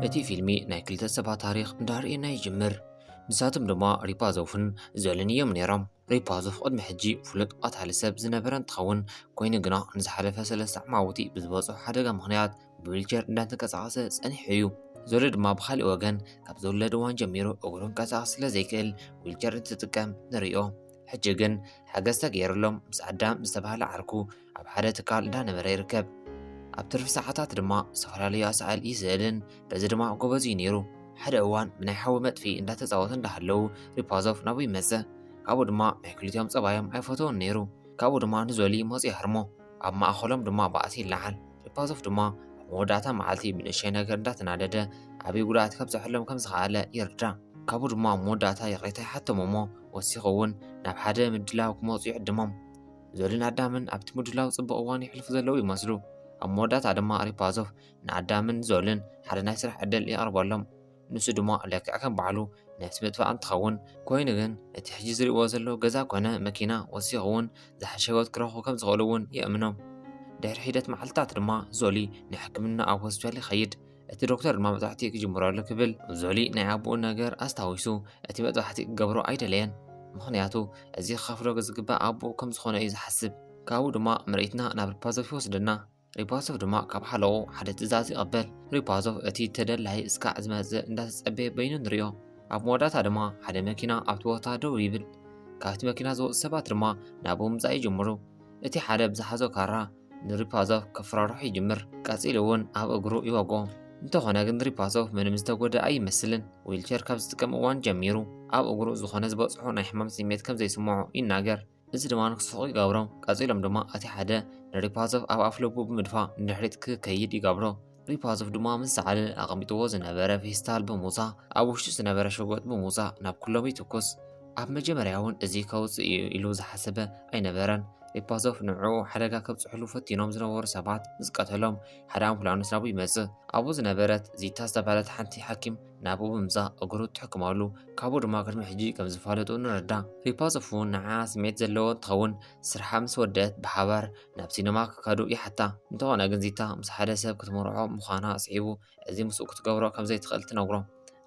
እቲ ፊልሚ ናይ ክልተ ሰባት ታሪኽ እንዳርእየና ይጅምር ንሳቶም ድማ ሪፓዞፍን ዘልን እዮም ነይሮም ሪፓዞፍ ቅድሚ ሕጂ ፍሉጥ ቀታሊ ሰብ ዝነበረ እንትኸውን ኮይኑ ግና ንዝሓለፈ ሰለስተ ዓማውቲ ብዝበፅሖ ሓደጋ ምክንያት ብዊልቸር እንዳተንቀሳቐሰ ጸኒሑ እዩ ዘሎ ድማ ብካሊእ ወገን ካብ ዝውለድ እዋን ጀሚሩ እግሩ እንቀሳቐስ ስለ ዘይክእል ዊልቸር እንትጥቀም ንሪኦ ሕጂ ግን ሓገዝ ተገይርሎም ምስ ኣዳም ዝተባህለ ዓርኩ ኣብ ሓደ ትካል እንዳነበረ ይርከብ። ኣብ ትርፊ ሰዓታት ድማ ዝተፈላለዩ ኣሳእል ይስእልን በዚ ድማ ጎበዝ እዩ ነይሩ። ሓደ እዋን ብናይ ሓዊ መጥፊ እንዳተፃወቱ እንዳሃለዉ ሪፓዞቭ ናብኡ ይመፀ። ካብኡ ድማ ናይ ክልቲኦም ፀባዮም ኣይፈተውን ነይሩ። ካብኡ ድማ ንዞሊ ሞፅ ይሃርሞ። ኣብ ማእኸሎም ድማ ባእሲ ይለዓል። ሪፓዞቭ ድማ ኣብ መወዳእታ መዓልቲ ብንእሸይ ነገር እንዳተናደደ ዓብዪ ጉድኣት ከብፀሐሎም ከምዝኸኣለ ይርዳእ። ካብኡ ድማ ኣብ መወዳእታ ይቕሬታ ይሓቶም እሞ ወሲኹ እውን ናብ ሓደ ምድላው ክመፁ ይዕድሞም። ዞልን ኣዳምን ኣብቲ ምድላው ጽቡቕ እዋን የሕልፉ ዘለዉ ይመስሉ። ኣብ መወዳእታ ድማ ሪፓዞቭ ንኣዳምን ዞልን ሓደ ናይ ስራሕ ዕድል የቕርበሎም። ንሱ ድማ ልክዕ ከም ባዕሉ ነፍሲ ምጥፋእ እንትኸውን ኮይኑ ግን እቲ ሕጂ ዝርእዎ ዘለዉ ገዛ ኮነ መኪና ወሲኹ እውን ዝሓሸ ህይወት ክረኽቡ ከም ዝኽእሉ እውን የእምኖም። ድሕሪ ሒደት መዓልትታት ድማ ዞሊ ንሕክምና ኣብ ሆስፒታል ይኸይድ። እቲ ዶክተር ድማ መጥባሕቲ ክጅምሮ ኣሎ ክብል ዞሊ ናይ ኣቦኡ ነገር ኣስታዊሱ እቲ መጥባሕቲ ክገብሮ ኣይደለየን። ምኽንያቱ እዚ ክኸፍሎ ዝግባእ ኣቦኡ ከም ዝኾነ እዩ ዝሓስብ። ካብኡ ድማ ምርኢትና ናብ ሪፓዞቭ ይወስደና። ሪፓዞቭ ድማ ካብ ሓለቑ ሓደ ትእዛዝ ይቐበል። ሪፓዞቭ እቲ ተደላይ እስካዕ ዝመጽእ እንዳተጸበየ በይኑ ንሪኦ። ኣብ መወዳእታ ድማ ሓደ መኪና ኣብቲ ቦታ ደው ይብል። ካብቲ መኪና ዝወጹ ሰባት ድማ ናብኡ ምምጻእ ይጅምሩ። እቲ ሓደ ብዝሓዞ ካራ ንሪፓዞቭ ከፍራርሖ ይጅምር፣ ቀጺሉ እውን ኣብ እግሩ ይወግኦ። እንተኾነ ግን ሪፓዞቭ ምንም ዝተጎድኣ ኣይመስልን፣ ዊልቸር ካብ ዝጥቀም እዋን ጀሚሩ ኣብ እግሩ ዝኾነ ዝበጽሖ ናይ ሕማም ስምዒት ከም ዘይስምዖ ይናገር፣ እዚ ድማ ንክስሕቕ ይገብሮ፣ ቀጺሎም ድማ እቲ ሓደ ንሪፓዞቭ ኣብ ኣፍልቡ ብምድፋእ ንድሕሪት ክከይድ ይገብሮ። ሪፓዞቭ ድማ ምስ ሰዓለ ኣቐሚጥዎ ዝነበረ ፌስታል ብምውፃእ ኣብ ውሽጡ ዝነበረ ሸጎጥ ብምውፃእ ናብ ኩሎም ይትኩስ። ኣብ መጀመርያ እውን እዚ ከውፅእ እዩ ኢሉ ዝሓሰበ ኣይነበረን። ሪፓዞቭ ንዕኡ ሓደጋ ከብፅሕሉ ፈቲኖም ዝነበሩ ሰባት ምስ ቀተሎም ሓደ ኣምቡላንስ ናብኡ ይመፅእ። ኣብኡ ዝነበረት ዚታ ዝተባህለት ሓንቲ ሓኪም ናብኡ ብምምፃእ እግሩ ትሕክመሉ፣ ካብኡ ድማ ቅድሚ ሕጂ ከም ዝፋለጡ ንረዳ። ሪፓዞቭ እውን ንዓ ስምዒት ዘለዎ እንትኸውን ስርሓ ምስ ወደአት ብሓባር ናብ ሲነማ ክካዱ ይሓታ። እንተኾነ ግን ዚታ ምስ ሓደ ሰብ ክትምርዖ ምዃና ስዒቡ እዚ ምስኡ ክትገብሮ ከም ዘይትኽእል ትነግሮ።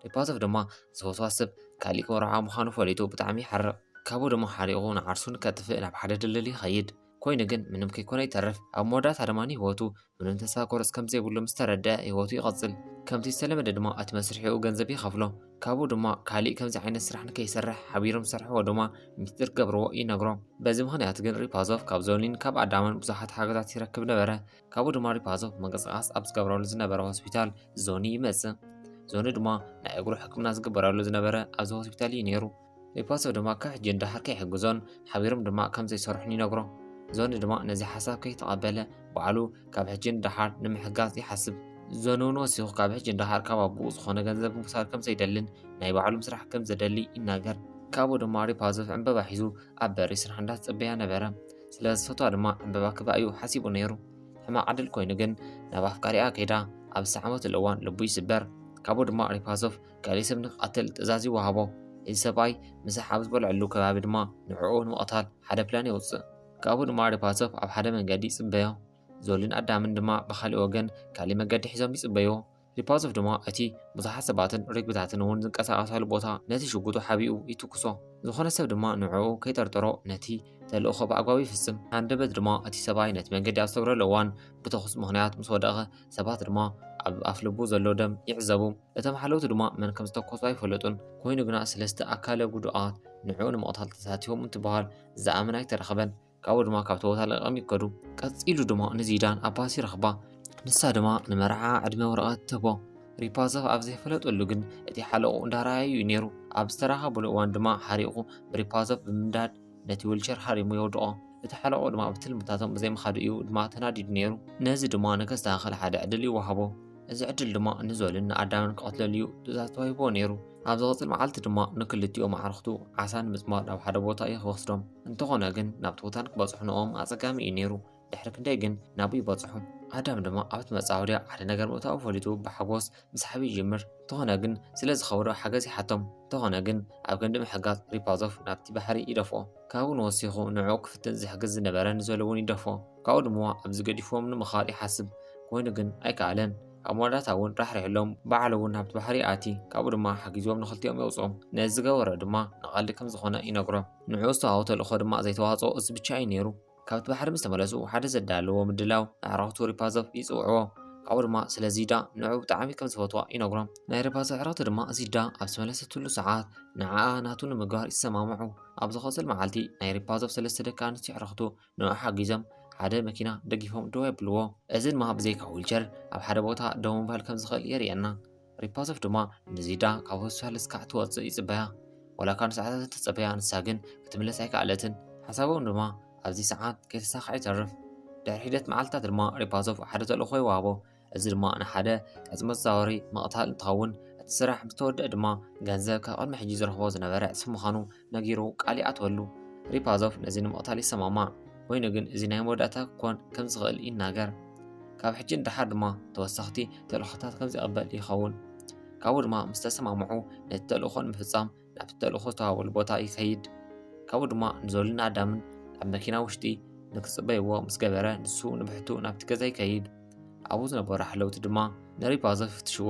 ሪፓቶቭ ድማ እዚ ወስዋስ ሰብ ካሊእ ክምርዖ ምዃኑ ፈሊጡ ብጣዕሚ ይሓርቕ። ካብኡ ድማ ሓሪቑ ንዓርሱ ንከጥፍእ ናብ ሓደ ድልድል ይኸይድ። ኮይኑ ግን ምንም ከይኮነ ይተርፍ። ኣብ መወዳእታ ድማ ንህይወቱ ምንም ተስፋ ቁርጽ ከም ዘይብሉ ምስ ተረድኣ ህይወቱ ይቐጽል። ከምቲ ዝተለመደ ድማ እቲ መስርሒኡ ገንዘብ ይኸፍሎ። ካብኡ ድማ ካሊእ ከምዚ ዓይነት ስራሕ ንከይሰርሕ ሓቢሮም ዝሰርሕዎ ድማ ሚስጢር ክገብርዎ ይነግሮ። በዚ ምኽንያት ግን ሪፓዞቭ ካብ ዞኒን ካብ ኣዳምን ብዙሓት ሓገዛት ይረክብ ነበረ። ካብኡ ድማ ሪፓዞቭ ምንቅስቓስ ኣብ ዝገብረሉ ዝነበረ ሆስፒታል ዞኒ ይመጽእ። ዞኒ ድማ ናይ እግሩ ሕክምና ዝግበረሉ ዝነበረ ኣብዚ ሆስፒታል እዩ ነይሩ። ኤጳሶ ድማ ከሕጅን ደሓር ከይሕግዞን ሓቢሮም ድማ ከም ዘይሰርሑን ይነግሮ። ዞኒ ድማ ነዚ ሓሳብ ከይተቐበለ ባዕሉ ካብ ሕጅን ደሓር ንምሕጋዝ ይሓስብ። ዞኒ እውን ወሲኹ ካብ ሕጅን ደሓር ካብ ኣቦኡ ዝኾነ ገንዘብ ምውሳድ ከም ዘይደልን ናይ ባዕሉ ምስራሕ ከም ዘደሊ ይናገር። ካብኡ ድማ ሪፓዞቭ ዕምበባ ሒዙ ኣብ በሪ ስራሕ እንዳተጸበያ ነበረ። ስለ ዝፈትዋ ድማ ዕምበባ ክባ እዩ ሓሲቡ ነይሩ። ሕማቕ ዕድል ኮይኑ ግን ናብ ኣፍቃሪኣ ከይዳ ኣብ ዝሰዓመትሉ እዋን ልቡ ይስበር። ካብኡ ድማ ሪፓዞቭ ካልእ ሰብ ንክቐትል ትእዛዝ ይወሃቦ። እዚ ሰብኣይ ምሳሕ ኣብ ዝበልዐሉ ከባቢ ድማ ንዕኡ ንምቕታል ሓደ ፕላን የውጽእ። ካብኡ ድማ ሪፓሶቭ ኣብ ሓደ መንገዲ ይጽበዮ። ዞሊን ኣዳምን ድማ ብኻሊእ ወገን ካሊእ መገዲ ሒዞም ይጽበዩ። ሪፓሶቭ ድማ እቲ ብዙሓት ሰባትን ርግቢታትን እውን ዝንቀሳቐሳሉ ቦታ ነቲ ሽጉጡ ሓቢኡ ይትኩሶ። ዝኾነ ሰብ ድማ ንዕኡ ከይጠርጠሮ ነቲ ተልእኾ ብኣግባቡ ይፍጽም። ሃንደበት ድማ እቲ ሰብኣይ ነቲ መንገዲ ኣብ ዝተገብረሉ እዋን ብተኹሲ ምኽንያት ምስ ወደቐ ሰባት ድማ ኣብ ኣፍልቡ ዘሎ ደም ይዕዘቡ። እቶም ሓለውቲ ድማ መን ከም ዝተኮሱ ኣይፈለጡን። ኮይኑ ግና ስለስተ ኣካለ ጉዱኣት ንዕኡ ንምቕታል ተሳቲፎም እንትበሃል ዝኣምን ኣይተረኸበን። ካብኡ ድማ ካብቲ ቦታ ለቒቖም ይከዱ። ቀጺሉ ድማ ንዚዳን ኣባሲ ረኽባ። ንሳ ድማ ንመርዓ ዕድመ ወረቐት ትህቦ። ሪፓዞቭ ኣብ ዘይፈለጠሉ ግን እቲ ሓለቑ እንዳረኣየዩ እዩ ነይሩ። ኣብ ዝተራኸብሉ እዋን ድማ ሓሪቑ ብሪፓዞቭ ብምንዳድ ነቲ ዊልቸር ሃሪሙ የውድቖ። እቲ ሓለቕኡ ድማ ብትልምታቶም ብዘይምኻዱ እዩ ድማ ተናዲዱ ነይሩ። ነዚ ድማ ንከስተኻኸል ሓደ ዕድል ይወሃቦ። እዚ ዕድል ድማ ንዞልን ንኣዳምን ክቐትለሉ እዩ ትእዛዝ ተዋሂብዎ ነይሩ። ኣብ ዝቕጽል መዓልቲ ድማ ንክልቲኦም ኣዕሩኽቱ ዓሳ ንምጽማድ ናብ ሓደ ቦታ እዩ ክወስዶም። እንተኾነ ግን ናብቲ ቦታ ንክበጽሑ ንኦም ኣጸጋሚ እዩ ነይሩ። ድሕሪ ክንደይ ግን ናብኡ ይበጽሑ። ኣዳም ድማ ኣብቲ መጻወድያ ሓደ ነገር ምእታዉ ፈሊጡ ብሓጎስ ምስሓብ ይጅምር። እንተኾነ ግን ስለ ዝኸበዶ ሓገዝ ይሓቶም። እንተኾነ ግን ኣብ ክንዲ ምሕጋዝ ሪፓዞቭ ናብቲ ባሕሪ ይደፍኦ። ካብኡን ወሲኹ ንዕኡ ክፍትን ዝሕግዝ ዝነበረ ንዘሉ'ውን ይደፍኦ። ካብኡ ድማ ኣብዚ ገዲፍዎም ንምኻድ ይሓስብ። ኮይኑ ግን ኣይከኣለን። ኣብ መወዳእታ'ውን ራሕሪሕሎም ባዕሉ'ውን ናብቲ ባሕሪ ይኣቲ። ካብኡ ድማ ሓጊዝዎም ንኽልቲኦም የውጽኦም። ነዚ ዝገበሮ ድማ ንቀልዲ ከም ዝኾነ ይነግሮ። ንዕኡ ዝተዋህቦ ተልእኾ ድማ ዘይተዋጽኦ እዚ ብቻ እዩ ነይሩ። ካብቲ ባሕሪ ምስ ተመለሱ ሓደ ዘዳለዎ ምድላው ንኣዕራኽቱ ሪፓዞቭ ይጽውዕዎ። ካብኡ ድማ ስለ ዚዳ ንዕኡ ብጣዕሚ ከም ዝፈትዋ ይነግሮም። ናይ ሪፓዞቭ ኣዕራኽቲ ድማ ዚዳ ኣብ ዝተመለሰትሉ ሰዓት ንዓኣ ናቱ ንምግባር ይሰማምዑ። ኣብ ዝኸጽል መዓልቲ ናይ ሪፓዞቭ ሰለስተ ደቂ ኣንስትዮ ኣዕራኽቱ ንዕኡ ሓጊዞም ሓደ መኪና ደጊፎም ደው የብልዎ። እዚ ድማ ብዘይካ ዊልቸር ኣብ ሓደ ቦታ ደው ምባል ከም ዝኽእል የርእየና። ሪፓዞፍ ድማ ንዚዳ ካብ ሆስፒታል እስካዕ ትወፅእ ይፅበያ። ዋላ ካብ ንሰዓታት እንተፀበያ ንሳ ግን ክትምለስ ኣይከኣለትን። ሓሳቦም ድማ ኣብዚ ሰዓት ከይተሳክዐ ይተርፍ። ድሕሪ ሒደት መዓልትታት ድማ ሪፓዞፍ ሓደ ተልእኾ ይወሃቦ። እዚ ድማ ንሓደ ዕፅ መዘዋወሪ ምቕታል እንትኸውን እቲ ስራሕ ምስ ተወድአ ድማ ገንዘብ ካብ ቅድሚ ሕጂ ዝረኽቦ ዝነበረ ዕፅፊ ምዃኑ ነጊሩ ቃል ይኣትወሉ። ሪፓዞቭ ነዚ ንምቕታል ይሰማማዕ፣ ኮይኑ ግን እዚ ናይ መወዳእታ ክኮን ከም ዝኽእል ይናገር። ካብ ሕጂ ንደሓር ድማ ተወሰኽቲ ተልእኾታት ከም ዘይቕበል ይኸውን። ካብኡ ድማ ምስ ተሰማምዑ ነቲ ተልእኾ ንምፍጻም ናብቲ ተልእኾ ዝተዋህበሉ ቦታ ይኸይድ። ካብኡ ድማ ንዞልን ኣዳምን ኣብ መኪና ውሽጢ ንክጽበይዎ ምስ ገበረ ንሱ ንብሕቱ ናብቲ ገዛ ይከይድ። ኣብኡ ዝነበሩ ሓለውቲ ድማ ንሪፓዞቭ ይፍትሽዎ።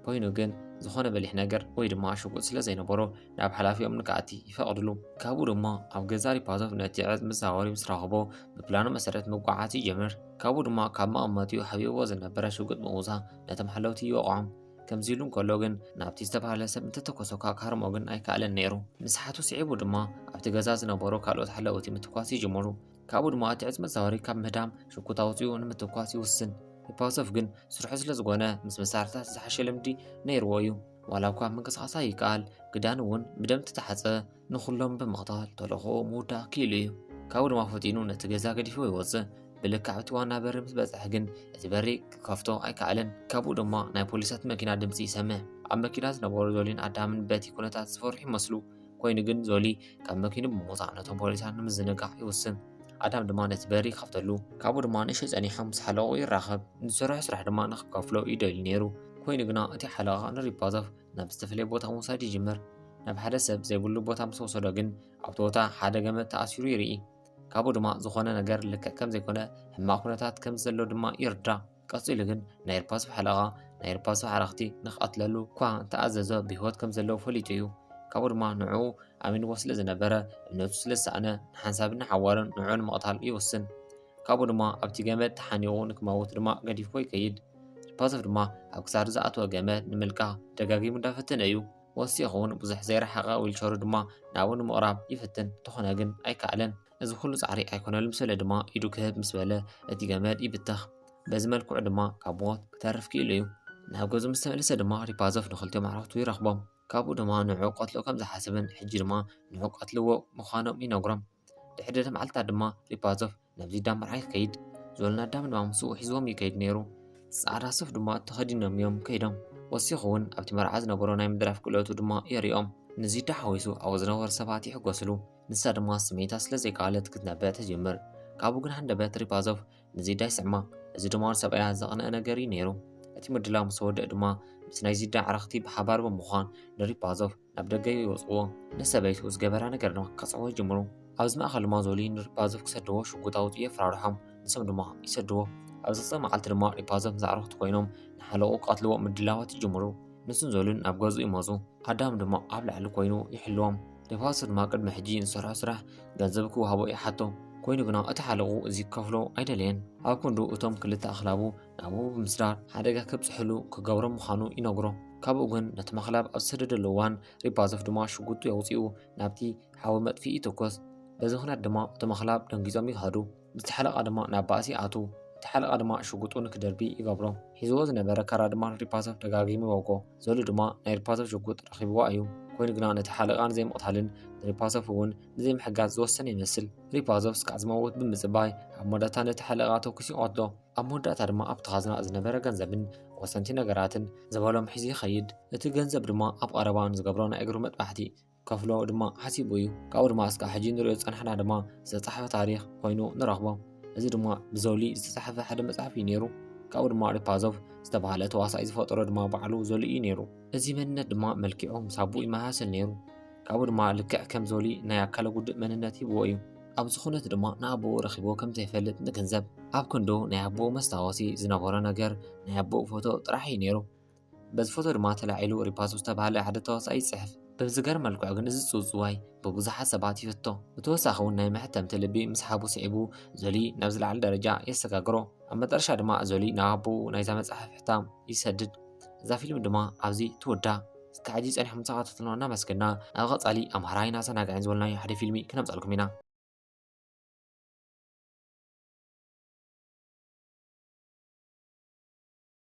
ኮይኑ ግን ዝኾነ በሊሕ ነገር ወይ ድማ ሽጉጥ ስለ ዘይነበሮ ናብ ሓላፊኦም ንክኣቲ ይፈቕድሉ። ካብኡ ድማ ኣብ ገዛ ሪፓዞቭ ነቲ ዕፅ ምስ ዛወሪ ምስ ረኸቦ ብፕላኑ መሰረት ምጉዓዓዝ ይጀምር። ካብኡ ድማ ካብ መቐመጢኡ ሓቢእዎ ዝነበረ ሽጉጥ ብምውፃእ ነቶም ሓለውቲ ይወቕዖም። ከምዚ ኢሉ እንከሎ ግን ናብቲ ዝተባህለ ሰብ እንተተኮሰኳ ክሃርሞ ግን ኣይከኣለን ነይሩ። ምስ ሓቱ ስዒቡ ድማ ኣብቲ ገዛ ዝነበሩ ካልኦት ሓለውቲ ምትኳስ ይጅምሩ። ካብኡ ድማ እቲ ዕጽ መዛወሪ ካብ ምህዳም ሽኩት ኣውጺኡ ንምትኳስ ይውስን። ሂፓውሰፍ ግን ስርሑ ስለ ዝኾነ ምስ መሳርሕታት ዝሓሸ ልምዲ ነይርዎ እዩ። ዋላ እኳ ምንቅስቓስ ኣይከኣል፣ ግዳን እውን ብደም ተተሓጸ። ንኹሎም ብምቕታል ተልእኾኡ ምውዳእ ክኢሉ እዩ። ካብኡ ድማ ፈጢኑ ነቲ ገዛ ገዲፉ ይወጽእ። ብልክዕ እቲ ዋና በሪ ምስ በጽሐ ግን እቲ በሪ ክከፍቶ ኣይከኣለን። ካብኡ ድማ ናይ ፖሊሳት መኪና ድምጺ ይሰምዕ። ኣብ መኪና ዝነበሩ ዞሊን ኣዳምን በቲ ኩነታት ዝፈርሑ ይመስሉ። ኮይኑ ግን ዞሊ ካብ መኪኑ ብምውፃእ ነቶም ፖሊሳት ንምዝንጋዕ ይውስን ኣዳም ድማ ነቲ በሪ ይኸፍተሉ ካብኡ ድማ ንእሽቶ ጸኒሖም ምስ ሓለቑ ይራኸብ ንዝሰርሖ ስራሕ ድማ ንክከፍሎ ይደልዩ ነይሩ ኮይኑ ግና እቲ ሓለቓ ንሪፓዞቭ ናብ ዝተፈላለየ ቦታ ምውሳድ ይጅምር ናብ ሓደ ሰብ ዘይብሉ ቦታ ምስ ወሰዶ ግን ኣብቲ ቦታ ሓደ ገመድ ተኣሲሩ ይርኢ ካብኡ ድማ ዝኾነ ነገር ልክዕ ከም ዘይኮነ ሕማቕ ኩነታት ከም ዘሎ ድማ ይርዳእ ቀጺሉ ግን ናይ ርፓሶቭ ሓለቓ ናይ ርፓሶቭ ሓራኽቲ ንክቐትለሉ እኳ እንተኣዘዞ ብህይወት ከም ዘለዉ ፈሊጡ እዩ። ካብኡ ድማ ንዕኡ ኣሚንዎ ስለ ዝነበረ እምነቱ ስለ ዝሰኣነ ንሓንሳብን ንሓዋሩን ንዕኡ ንምቕታል ይውስን። ካብኡ ድማ ኣብቲ ገመድ ተሓኒቑ ንክመውት ድማ ገዲፍዎ ይከይድ። ርፓዞቭ ድማ ኣብ ክሳዱ ዝኣተወ ገመድ ንምልቃቕ ደጋጊሙ እንዳፈተነ እዩ። ወሲኹ እውን ብዙሕ ዘይረሓቐ ዊልቸሩ ድማ ናብኡ ንምቕራብ ይፍትን፣ እንተኾነ ግን ኣይከኣለን። እዚ ኩሉ ጻዕሪ ኣይኮነሉም ስለ ድማ ኢዱ ክህብ ምስ በለ እቲ ገመድ ይብተኽ በዚ መልክዑ ድማ ካብ ሞት ክተርፍ ክኢሉ እዩ ናብ ገዙ ምስ ተመለሰ ድማ ሪፓዞፍ ንክልቲኦም ኣዕሩኽቱ ይረኽቦም ካብኡ ድማ ንዑ ቀትሎ ከም ዝሓስብን ሕጂ ድማ ንዑ ቀትልዎ ምዃኖም ይነግሮም ድሕሪ ድሕሪ መዓልትታት ድማ ሪፓዞፍ ናብዚ ዳም መርዓ ይከይድ ዝበሉን ኣዳም ድማ ምስኡ ሒዝዎም ይከይድ ነይሩ ጻዕዳ ሱፍ ድማ ተኸዲኖም እዮም ከይዶም ወሲኹ እውን ኣብቲ መርዓ ዝነበሮ ናይ ምድራፍ ክእለቱ ድማ የሪኦም ንዚዳ ሓዊሱ ኣብኡ ዝነበሩ ሰባት ይሕጎስሉ ንሳ ድማ ስሜታ ስለ ዘይከኣለት ክትነብዕ ትጅምር። ካብኡ ግን ሃንደበት ሪፓዞቭ ንዚዳ ይስዕማ፣ እዚ ድማ ንሰብኣያ ዘቕንእ ነገር እዩ ነይሩ። እቲ ምድላው ምስ ወድእ ድማ ምስ ናይ ዚዳ ኣዕርኽቲ ብሓባር ብምዃን ንሪፓዞቭ ናብ ደገ ይወጽእዎ። ንሰበይቱ ዝገበራ ነገር ድማ ከጽዕዎ ይጅምሩ። ኣብዚ ማእከል ድማ ዞሊ ንሪፓዞቭ ክሰድዎ ሽጉጥ ኣውጺኡ የፈራርሖም፣ ንሶም ድማ ይሰድዎ። ኣብ ዝቕጽል መዓልቲ ድማ ሪፓዞቭ ምስ ኣዕርኽቱ ኮይኖም ንሓለቕኡ ክቐትልዎ ምድላዋት ይጅምሩ። ንሱን ዞልን ናብ ገዝኡ ይመጹ፣ ኣዳም ድማ ኣብ ላዕሊ ኮይኑ ይሕልዎም። ደፋሶ ድማ ቅድሚ ሕጂ ንዝሰርሖ ስራሕ ገንዘብ ክወሃቦ ይሓቶ ኮይኑ ግና እቲ ሓለቑ እዚ ክከፍሎ ኣይደለየን። ኣብ ክንዱ እቶም ክልተ ኣኽላቡ ናብኡ ብምስዳር ሓደጋ ከብጽሕሉ ክገብሮ ምዃኑ ይነግሮ። ካብኡ ግን ነቲ መኽላብ ኣብ ዝሰደደሉ እዋን ሪባዞፍ ድማ ሽጉጡ የውጽኡ ናብቲ ሓዊ መጥፍኢ ይትኮስ። በዚ ምክንያት ድማ እቶም ኣኽላብ ደንጊጾም ይኸዱ። እቲ ሓለቓ ድማ ናብ ባእሲ ይኣትው። እቲ ሓለቓ ድማ ሽጉጡ ንክደርቢ ይገብሮ። ሒዝዎ ዝነበረ ካራ ድማ ንሪፓሶቭ ደጋጊሙ ይወግኦ። ዘሉ ድማ ናይ ሪፓሶቭ ሽጉጥ ረኺብዋ እዩ። ኮይኑ ግና ነቲ ሓለቓ ንዘይምቕታልን ንሪፓሶቭ እውን ንዘይምሕጋዝ ዝወሰነ ይመስል። ሪፓዞቭ እስካዕ ዝመውት ብምጽባይ ኣብ መወዳእታ ነቲ ሓለቓ ተኩሱ ይቐትሎ። ኣብ መወዳእታ ድማ ኣብቲ ካዝና ዝነበረ ገንዘብን ወሰንቲ ነገራትን ዝበሎም ሒዙ ይኸይድ። እቲ ገንዘብ ድማ ኣብ ቐረባ ንዝገብሮ ናይ እግሩ መጥባሕቲ ከፍሎ ድማ ሓሲቡ እዩ። ካብኡ ድማ እስካዕ ሕጂ ንሪኦ ዝጸናሕና ድማ ዝተጻሕፈ ታሪኽ ኮይኑ ንረኽቦ። እዚ ድማ ብዞሊ ዝተጻሕፈ ሓደ መጽሓፍ እዩ ነይሩ። ካብኡ ድማ ሪፓዞቭ ዝተባህለ ተዋሳኢ ዝፈጠሮ ድማ ባዕሉ ዞሊ እዩ ነይሩ። እዚ መንነት ድማ መልኪዑ ምስ ኣቦኡ ይመሳሰል ነይሩ። ካብኡ ድማ ልክዕ ከም ዞሊ ናይ ኣካለ ጉዱእ መንነት ሂብዎ እዩ። ኣብዚ ኩነት ድማ ንኣቦኡ ረኺቦ ከም ዘይፈልጥ ንግንዘብ። ኣብ ክንዱ ናይ ኣቦኡ መስታወሲ ዝነበሮ ነገር ናይ ኣቦኡ ፎቶ ጥራሕ እዩ ነይሩ። በዚ ፎቶ ድማ ተላዒሉ ሪፓሶ ዝተባህለ ሓደ ተዋሳኣይ ይጽሕፍ። ብዝገርም መልክዑ ግን እዚ ጽውጽዋይ ብብዙሓት ሰባት ይፍቶ። ብተወሳኺ እውን ናይ መሕተምቲ ልቢ ምስሓቡ ስዒቡ ዞሊ ናብ ዝለዓለ ደረጃ የሰጋግሮ። ኣብ መጠረሻ ድማ ዞሊ ናብ ኣቦኡ ናይዛ መጽሓፍ ሕታም ይሰድድ። እዛ ፊልም ድማ ኣብዚ ትውዳእ። እስከ ሕጂ ጸኒሕኩም ተኻታተሉና እናመስገና ኣብ ቀጻሊ ኣምሃራይን ኣሰናጋዒን ዝበልናዮ ሓደ ፊልሚ ክነምጻልኩም ኢና።